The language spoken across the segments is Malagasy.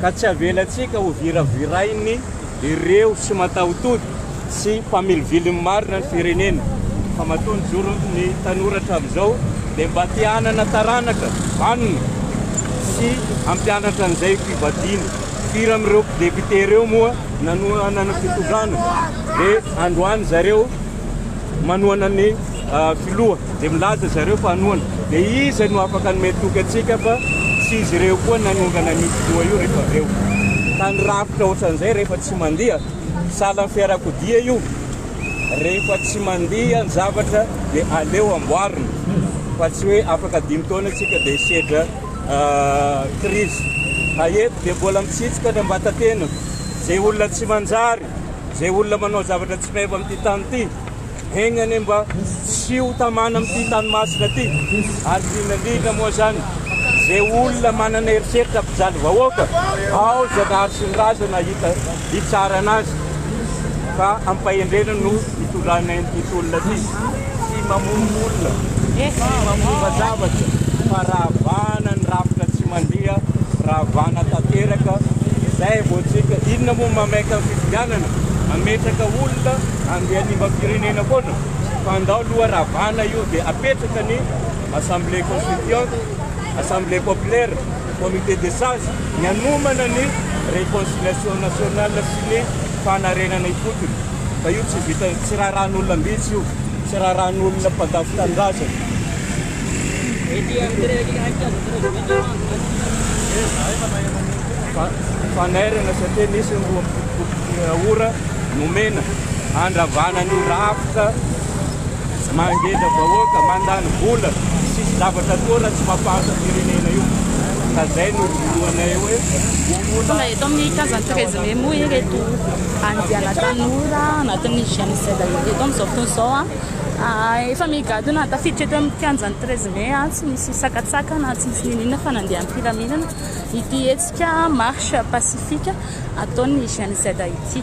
ka tsy avelantsika ho viravirain'ny ireo tsy matahotody sy mpamilovilo ny marina ny firenena fa matoa ny joron'ny tanora hatramin'izao dia mba te hanana taranaka vanona sy hampianatra an'izay fivadiana firy amin'ireo député ireo moa nanohanana fitondrana dia androany zareo manohana ny filoha dia milaza zareo fa hanohana dia iza no afaka hanome toky antsika fa tsy izy ireo koa nanongana an'io filoha io rehefa avy eo ka ny rafitra ohatran'izay rehefa tsy mandiha salan'ny fiarakodia io rehefa tsy mandiha ny zavatra dia aleo amboarina fa tsy hoe afaka dimy taona antsika dia sedra krizy ah, haeto dia mbola mitsitsika ny ambatatena izay olona tsy manjary Izay olona manao zavatra tsy meva amin'ity tany ity, hegna anie mba tsy ho tamana amin'ity tany masina ity. Ary indrindra indrindra moa izany, izay olona manana eritreritra mpijaly vahoaka, ao Zanahary sy ny razana hita hitsarana azy. Fa amim-pahendrena no Hitondrana eny tontolona ity tsy mamono olona, tsy mamova zavatra fa ravana ny rafitra tsy mandeha, ravana tanteraka izay vao tsika. Inona moa mamaika ny fifidianana, mametraka olona handeha hanimba firenena foana fa ndao loha ravana io dia apetraka ny assemblée constituante, assemblée populaire, comité des sages ny hanomana ny réconciliation nationale sy ny fanarenana ifotony. Fa io tsy vita, tsy raharahan'olona ambitsy io, tsy raharahan'olona mpandafo tanindrazana. Fa fanairana satria nisy ny roa amby fitopolo sy ora nomena handravana an'io rafitra mangeja vahoaka, mandany vola, tsisy zavatra toa raha tsy mampahantra firenena io. Ka zay no vonoanay hoe. Tonga eto amin'ny Casa Treze Memo ireto. Andiana tanora anatin'ny génocide amidy eto amin'izao fotoana izao. Efa migadona tafiditra eto amin'ny kianjan'ny treize mai, tsy misy sakantsakana, tsy misy n'inon'inona fa nandeha am-pilaminana ity hetsika marche pacifique ataon'ny génocide ity.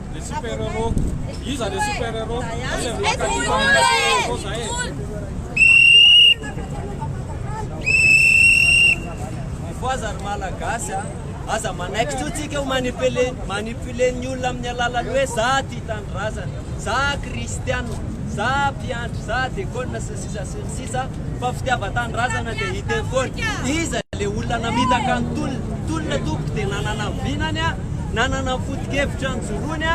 Le super héros. Iza le super héros? Aza miaka ny fanina super héros zay. Mifoaza ry malagasy a. Aza manaiky tso tsika ho manipuler manipuler ny olona amin'ny alalan'ny hoe za tia tanindrazana, za kristianina, za mpiandry, za dekona sy Iza sy ny sisa fa fitiavan-tanindrazana dia hita eo foana. Iza ilay olona namitaka ny tolona? Tolona tompoko dia nanana ny vinany, nanana ny foto-kevitra nijoroany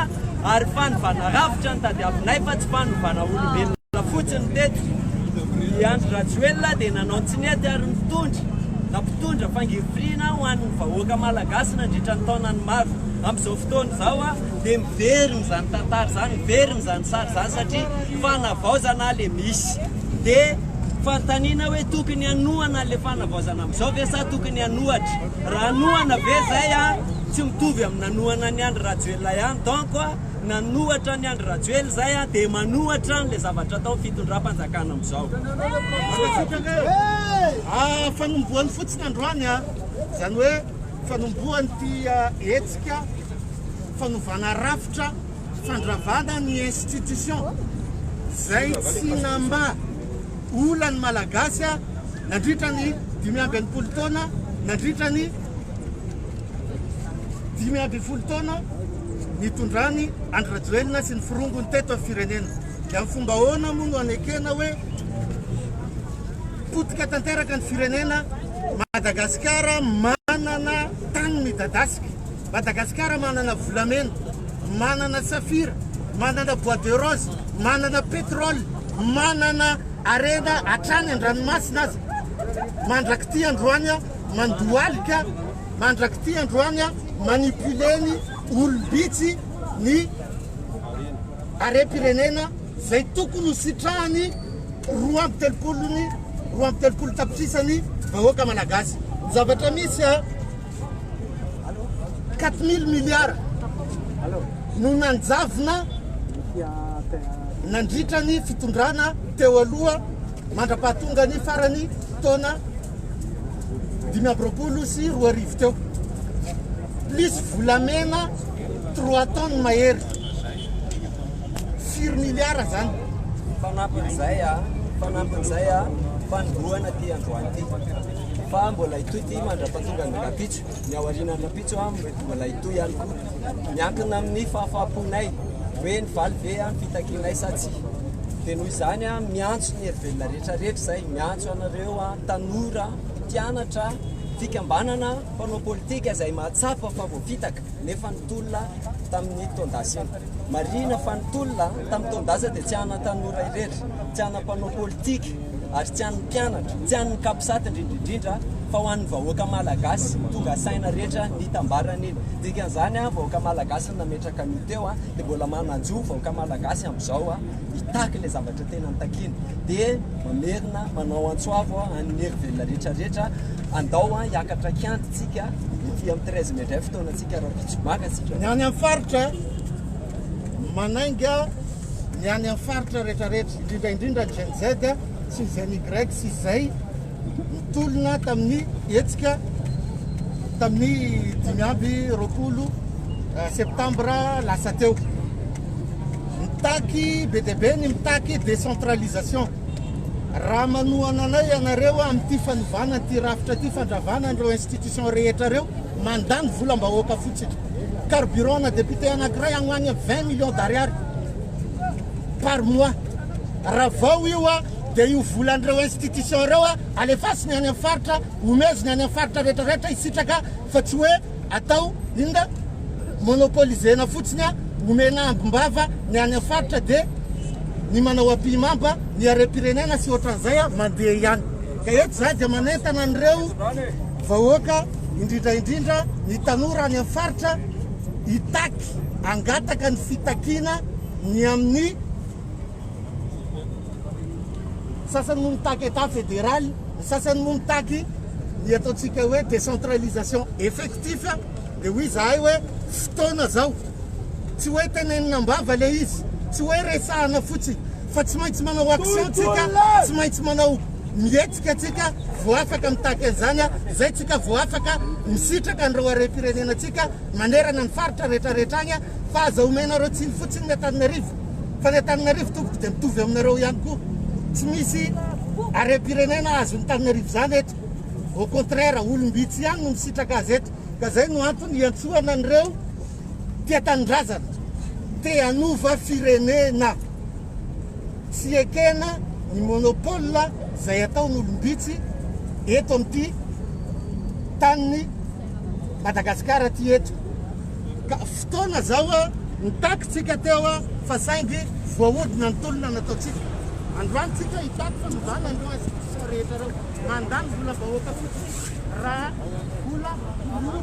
ary fanovana rafitra no tadiavinay fa tsy fanovana olombelona fotsiny teto. I Andry Rajoelina dia nanao tsy nety ary nitondra na mpitondra fangirifiriana ho an'ny vahoaka malagasy nandritra ny taonany maro. Amin'izao fotoana izao, Dia miverina izany tantara izany, miverina izany sary izany satria fanavaozana ilay misy. Dia fanontaniana hoe tokony hanohana ilay fanavaozana amin'izao ve sa tokony hanohatra? Raha hanohana ve izay an, tsy mitovy amin'ny nanohana an'i Andry Rajoelina ihany. Donc nanohatra an'i Andry Rajoelina izay an, dia manohatra an'ilay zavatra ataon'ny fitondram-panjakana amin'izao. Mankasitraka e! Fanombohany fotsiny androany an, izany hoe. Fanombohan'ity hetsika fanovana rafitra fandravana ny institution izay tsy namba ola ny Malagasy nandritra ny dimy amby enimpolo taona nandritra ny dimy ambin'ny folo taona nitondran'i Andry Rajoelina sy ny firongony teto amin'ny firenena. Dia amin'ny fomba ahoana moa no anekena hoe Potika tanteraka ny firenena, Madagasikara manana tany midadasika, Madagasikara manana volamena, manana safira, manana bois de rose, manana pétrole, manana harena hatrany an-dranomasina aza. Mandrak'ity androany aho mandohalika, mandrak'ity androany aho manipuler ny olom-bitsy ny harem-pirenena. izay tokony ho sitrahan'ny roa amby telopolo ny roa amby telopolo tapitrisa ny vahoaka malagasy. Ny zavatra misy a 4000 milliards no nanjavona nandritra ny fitondrana teo aloha mandra-pahatonga ny farany taona dimy amby roapolo sy roa arivo teo plus volamena trois tonnes mahery firy miliara zany? Fanampin'izay a, fanampin'izay a, fanombohana ity androany ity. Fa mbola hitohy ity mandra-pahatonga ny rahampitso. Ny aoriana ny rahampitso a, mety mbola hitohy ihany koa. Miankina amin'ny fahafaham-ponay hoe nivaly ve ny fitakianay sa tsia. Dia noho izany a, miantso ny herivelona rehetra rehetra izay, miantso anareo a, tanora, mpianatra, fikambanana, mpanao politika izay mahatsapa fa voafitaka. nefa ny tolona tamin'ny taon-dasiny. Marihina fa ny tolona tamin'ny taon-dasa dia tsy an'ny tanora irery, tsy an'ny mpanao politika ary tsy an'ny mpianatra, tsy an'ny Capsat indrindra indrindra fa ho an'ny vahoaka malagasy tonga saina rehetra nitambara an'iny. Dikan'izany, vahoaka malagasy no nametraka an'io teo dia mbola mananjo vahoaka malagasy amin'izao hitaky ilay zavatra. Ny tena ny takiana dia mamerina manao antso avo an'ny hery velona rehetra rehetra andao hiakatra kiandy tsika ety amin'ny 13 mai indray fotoana tsika raha vitsy maka tsika. Ny any amin'ny faritra manainga ny any amin'ny faritra rehetra rehetra indrindra indrindra ny Gen Z sy ny Gen Y sy izay Nitolona tamin'ny hetsika tamin'ny dimy amby roapolo septambra lasa teo. Mitaky be dia be ny mitaky décentralisation. Raha manohana anay ianareo amin'ity fanovana ity rafitra ity fandravana an'ireo institution rehetra ireo, mandany volam-bahoaka fotsiny. Carburant na député anankiray agny ho agny 20 millions d'ariary par mois. Ravao io a! Dia io volan'ireo institutions ireo alefasiny any amin'ny faritra, omeziny any amin'ny faritra rehetra rehetra hisitraka fa tsy hoe atao inona? Monopoliser-na fotsiny, omena ambim-bava ny any amin'ny faritra dia ny manao ampihimamba ny harem-pirenena sy ohatran'izay mandeha ihany. Ka eto izaho dia manentana an'ireo vahoaka, indrindra indrindra ny tanora any amin'ny faritra hitaky, hangataka ny fitakiana ny amin'ny. Ny sasany moa mitaky Etat federal, ny sasany moa mitaky ny ataontsika hoe décentralisation effectif, dia hoy izahay hoe fotoana izao, tsy hoe tenenina am-bava ilay izy, tsy hoe resahina fotsiny fa tsy maintsy manao action tsika, tsy maintsy manao mihetsika tsika vao afaka mitaky an'izany, izay tsika vao afaka misitraka an'ireo harem-pirenena tsika manerana ny faritra rehetra rehetra any. fa aza omenareo tsiny fotsiny ny Antananarivo fa ny Antananarivo tompoko dia mitovy aminareo ihany koa tsy misy harem-pirenena azon'ny Tananarivo zany eto au contraire olom-bitsy ihany no misitraka azy eto ka zay no antony hiantsoana an'ireo tia tanindrazana te hanova firenena tsy ekena ny monopole zay ataon'olom-bitsy eto amin'ity taniny Madagasikara ty eto Ka fotoana zao nitaky tsika teo fa saingy voahodina ny tolona nataontsika. Androany tsika hitaky fa mizana ireo institutions rehetra ireo. Mandany vola vahoaka fotsiny raha vola vola.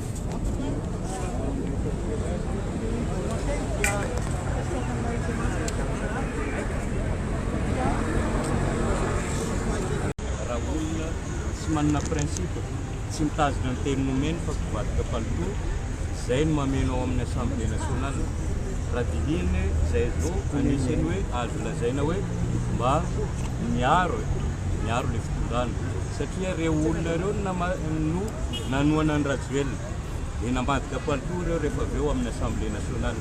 tsy manana principe tsy mitazona ny teny nomeny fa mpivadika palitao izay no mameno ao amin'ny assemblée nationale raha dinihina hoe izay zao anisan'ny hoe azo lazaina hoe mba miaro miaro le fitondrana satria reo olona reo no Nanohana an'i Rajoelina, dia nambadika palitao ireo rehefa avy eo amin'ny Assemblée Nationale.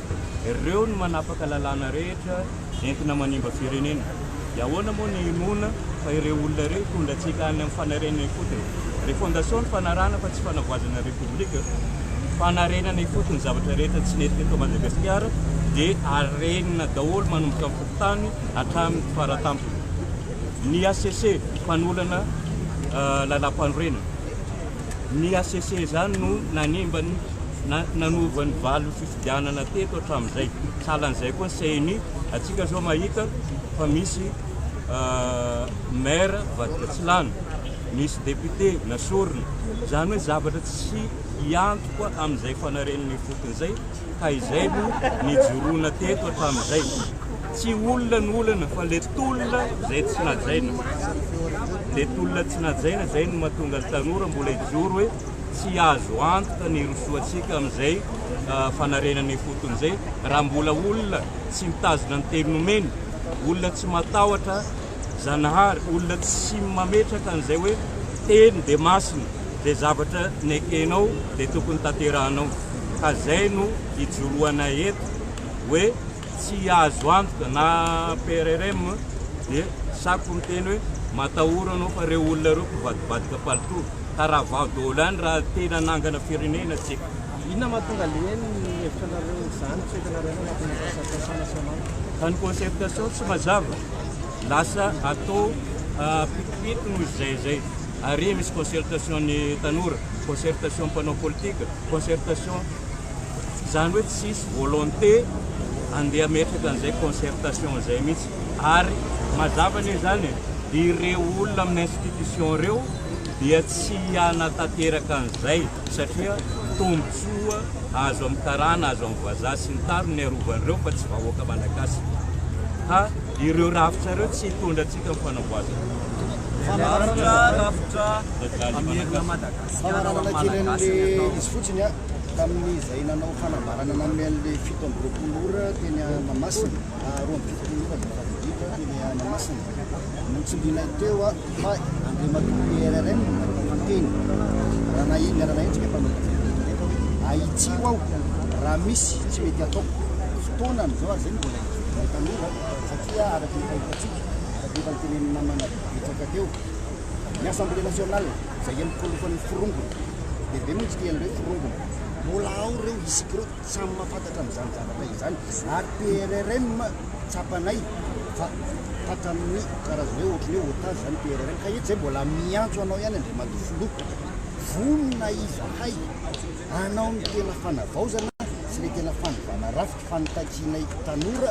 Ireo no manapaka lalàna rehetra entina manimba firenena. Dia ahoana moa ny hinoana fa ireo olona ireo hitondra antsika any amin'ny fanarenana ifotony? Refondation no fanarahana fa tsy fanavoazana Repoblika. Fanarenana ifotony zavatra rehetra tsy nety teto Madagasikara dia arenina daholo manomboka amin'ny fokontany hatramin'ny faratampony. Ny HCC mpanolana lalàmpanorenana. Ny hcc izany no nanimba ny nanova ny valin'ny fifidianana teto hatramin'izay. Sahalan'izay koa ny ceni, antsika izao mahita fa misy maire vadika tsy lany, misy député nasorina, izany hoe zavatra tsy hiantoka amin'izay fanarenana ifotony izay. Ka izay no nijoroana teto hatramin'izay. Tsy olona no olana fa le tolona izay tsy najaina. Le tolona tsy najaina izay no mahatonga ny tanora mbola hijoro hoe tsy azo antoka ny hirosoantsika amin'izay fanarenana ifotony izay raha mbola olona tsy mitazona ny teny nomeny, olona tsy matahotra. Zanahary, olona tsy mametraka an'izay hoe teny dia masina, izay zavatra nekenao dia tokony tanterahanao, ka izay no ijoroanay eto hoe tsy azo antoka na PRRM dia sako miteny hoe matahora anao fa ireo olona ireo mpivadibadika palitao, ka ravao daholo any raha tena hanangana firenena isika. Inona mahatonga anie ny hevitranareo izany, tsy ho hitanareo anie anatin'ny asa fiasana sy hamaky? Fa ny concertation tsy mazava. lasa atao pitopito noho izay izay ary misy concertation ny tanora concertation mpanao politika concertation izany hoe tsisy volonté andeha metraka an'izay concertation izay mihitsy ary mazava ny izany ireo olona amin'ny institution ireo dia tsy hiana tanteraka an'izay satria tombontsoa azo amin'ny karana azo amin'ny vazaha sy ny tariny ny arovan'ireo fa tsy vahoaka malagasy ka ireo rafitra ireo tsy hitondra antsika amin'ny fanamboazana Rafitra, rafitra, amerina Madagasikara ho an'ny Malagasy ny atao. Izy fotsiny a, tamin'izay nanao fanambarana namehy an'ilay fito amby roapolo ora teny Mahamasina, roa amby fitopolo ora, teny Mahamasina. Notsindrinay teo aho fa Andriamatoa PRRM no miteny. Raha nahinga raha nahenjika efa notsindrinay teo aho hoe ahitsio aho raha misy tsy mety ataoko. Fotoanany izao ary izay no mbola hizovianay tanora satria araka ny fahitantsika, araka ny efa notenenin'ny namana betsaka teo, ny Assemblée Nationale izay enimpolo fony forongony, lehibe mihitsy ity an'ireo forongony, mbola ao ireo isika ireo. Samy mahafantatra amin'izany zavatra izany ary PRRM tsapanay fa tratran'ny karazana hoe ohatran'ny hoe otage izany PRRM ka eto izay mbola miantso anao ihany Andriamatoa Filoha vonona izahay hanao ny tena fanavaozana sy ilay tena fanovana rafitra fanitakianay tanora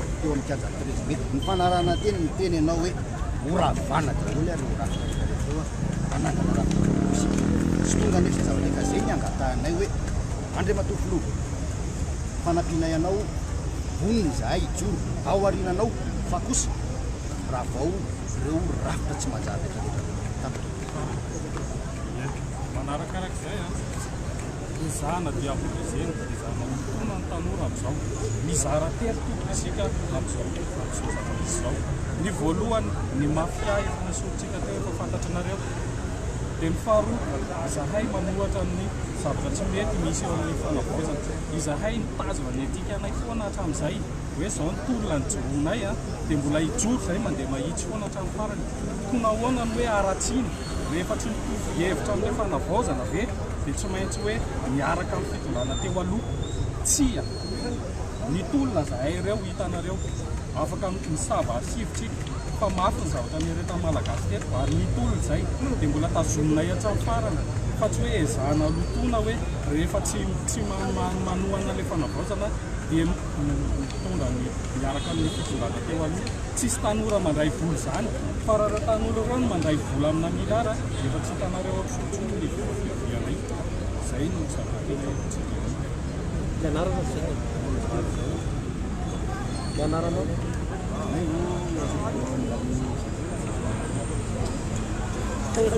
teo amin'ny kianja Andrezy be. Ny fanarahan-teny miteny ianao hoe ho ravana daholo ary ho ratsy rehetra rehetra eo hanangana rafitra politika. Tsy tonga anefa izany zavatra ka izay ny angatahanay hoe Andriamatoa Filoha, fanampianay anao vonona izahay hijoro ao aoriananao fa kosa ravao ireo rafitra tsy manjary rehetra rehetra ireo. Tapitra. Manarakarak'izay an! Hozahana dia amporizeny, hozahana horohoroana ny tanora amin'izao. Mizara tery tokoa isika amin'izao, amin'izao zava-misy izao. Ny voalohany, ny mafia efa nesorintsika teo, efa fantatranareo. Dia ny faharoa, izahay manohatra ny zavatra tsy mety misy eo amin'ny fanavaozana. Izahay nitazona ny etikanay foana hatramin'izay, hoe izao ny tolona nijoroanay, dia mbola hijoro izahay, mandeha mahitsy foana hatramin'ny farany. Koa nahoana no hoe haratsiana? Rehefa tsy mitovy hevitra amin'ilay fanavaozana ve dia tsy maintsy hoe miaraka amin'ny fitondrana teo aloha? Tsia! Ny tolona zahay ireo hitanareo. Afaka misava archive tsika fa mafy ny zavatra niaretan'ny Malagasy teto ary ny tolona izay dia mbola tazominay hatramin'ny farany fa tsy hoe ezahana lotoina hoe rehefa tsy tsy manohana ilay fanavaozana dia Ny mpitondra no miaraka amin'ny fitondrana teo aloha. Tsisy tanora mandray vola izany fa raha ireo tanora ireo no mandray vola amina milliard dia efa tsy hitanareo ao Tojo intsony ilay vola fiadiana io. Izay no zava-tena eto Antsiranana. Fianarana ve no mivaly izao? Fianarana no. Tena.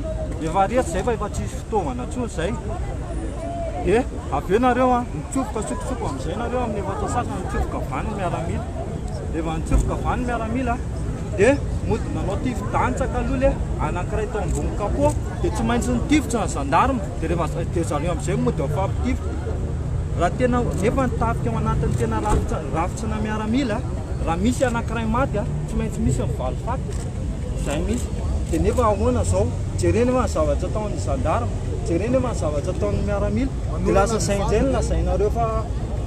Efa reto izay fa efa tsisy fitaovana intsony izay. Dia avy eo nareo a, mitsofoka sokotsoko amin'izay nareo amin'ny efatra sasany mitsofoka vaniny miaramila. Rehefa nitsofoka vaniny miaramila dia mody nanao tifo dantsaka aloha le anankiray tao ambony kapô dia tsy maintsy nitifitra ny gendarme dia rehefa dia zareo amin'izay mody mifampitifitra. Raha tena nefa ny tafika ao anatin'ny tena rafitra rafitra miaramila raha misy anankiray maty a, tsy maintsy misy ny valifaty. Izay mihitsy. Dia nefa ahoana izao? Jereny va ny zavatra ataon'ny gendarme? Jereny va ny zavatra ataon'ny miaramila? Dia lasa izay indray no lazainareo fa,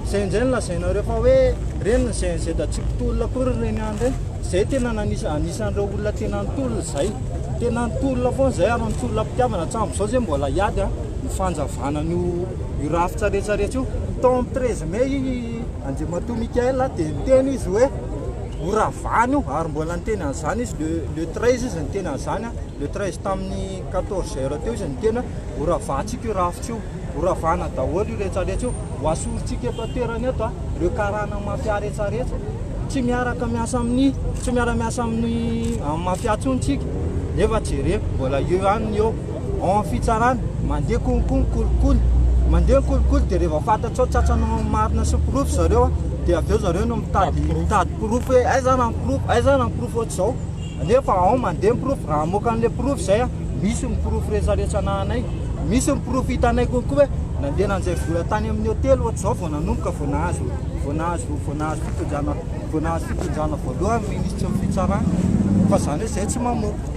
izay indray no lazainareo fa hoe ireny ny GNZ tsy mpitolona akory ireny ihany ireny. Izay tena nanisa, anisan'ireo olona tena nitolona izay. Tena nitolona foana izay ary nitolona am-pitiavana. Hatramin'izao izay mbola hiady ny fanjavana an'io io rafitra rehetra rehetra io. Tao amin'ny treize mai i Andriamatoa Michael dia niteny izy hoe. ho ravany io ary mbola niteny an'izany izy le le 13 izy niteny an'izany a le 13 tamin'ny 14 heures teo izy niteny hoe ho ravahantsika io rafitra io ho ravana daholo io rehetra rehetra io ho asorintsika eto an-toerana eto a reo karana mafia rehetra rehetra tsy miaraka miasa amin'ny tsy miara miasa amin'ny amin'ny mafia tsony tsika nefa jereo mbola eo ihany ny eo Ao amin'ny fitsarana, mandeha konko ny kolikoly. Mandeha ny kolikoly dia rehefa fantatrao tratranao ny marina sy ny porofo zareo dia avy eo zareo no mitady mitady porofo hoe aiza ary ny porofo, aiza ary ny porofo ohatr'izao. Nefa ao mandeha ny porofo, raha hamoaka an'ilay porofo izay, misy ny porofo rehetra rehetra anahanay. Misy ny porofo hitanay konko hoe nandeha nanjay vola tany amin'ny hotely ohatr'izao vao nanomboka vao nahazo vao nahazo vao nahazo fitondrana vao nahazo fitondrana voalohany ny minisitry ny fitsarana. Fa izany hoe izay tsy mamoaka.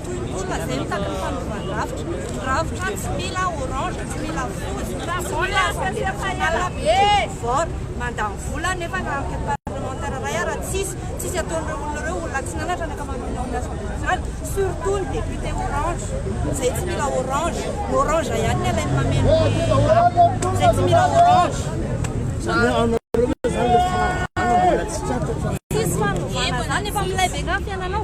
Toy ny olona izay mitaky ny fanovan-drafitra. Ny rafitra tsy mila orange, tsy mila fotsy, tsy mila volondavenona, be, vert. Mandany vola nefa ny rafitra parlementaire iray ary tsisy, tsisy ataon'ireo olona ireo, olona tsy nanatra ny ankamaroan'ny ao amin'ny assemblée nationale, surtout ny député orange, izay tsy mila orange. Ny orange ihany no alainy mameno ny rafitra, izay tsy mila orange. Tsisy fanovana izany, efa milay be angaha ny fiainanao.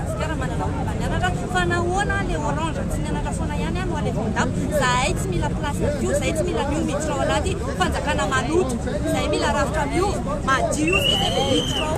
Madagasikara manana olona nianatra fa nahoana le orange tsy nianatra foana ihany no alefa ao dago zahay tsy mila place aty io zahay tsy mila anio miditra ao anaty fanjakana maloto zahay mila rafitra miova madio zay zay vao miditra ao